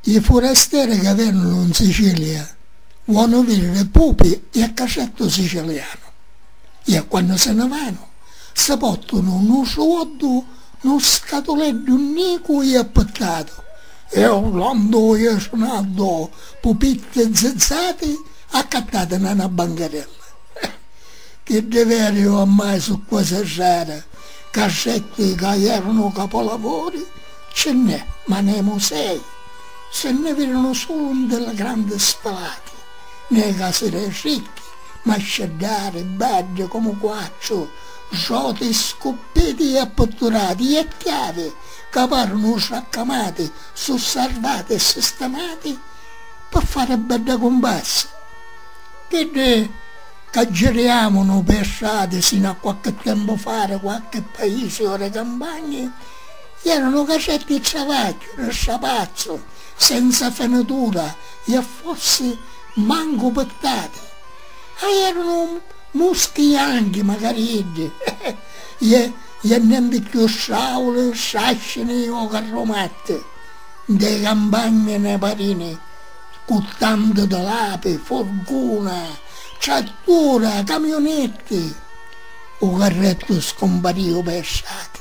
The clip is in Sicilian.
Li furasteri ca vènunu 'n Sicilia vonu vidiri pupi e a casettu sicilianu e a quannu se ne vanu si pòrtunu nu soddu nu scatuleddu nicu e appittatu e urlandu e sunandu pupitti e zizzati accattati na na bancarella. Chiddi veri oramai su' quasi rari casetti ca ierunu capolavori Ce nnè, ma nemu sei. Se nne virinu sulu nde la grandi spalati, ne casi dei ricchi, masceddari, baddi comu quattru, roti, scuppiti e apputturati e chiavi ca parunu sraccamati su sarvati e sistemati pi fari bedda cumpassa. Chiddi ca giriamunu pei strati sinu a quacchi tempu fari quacchi paisi o dei campagni, Iera nu cacetti i travagghiu, nu strapazzu, senza fenitura i a fossi mancu pittati. A iera nu muschi ianchi, macari iddi, i i a nenti cchiù strauli, strascini o carrumatti, nta i campagni ne parini cu tantu di lapi, furguna, trattura, camiunetti. U carrettu scumpariu pei strati.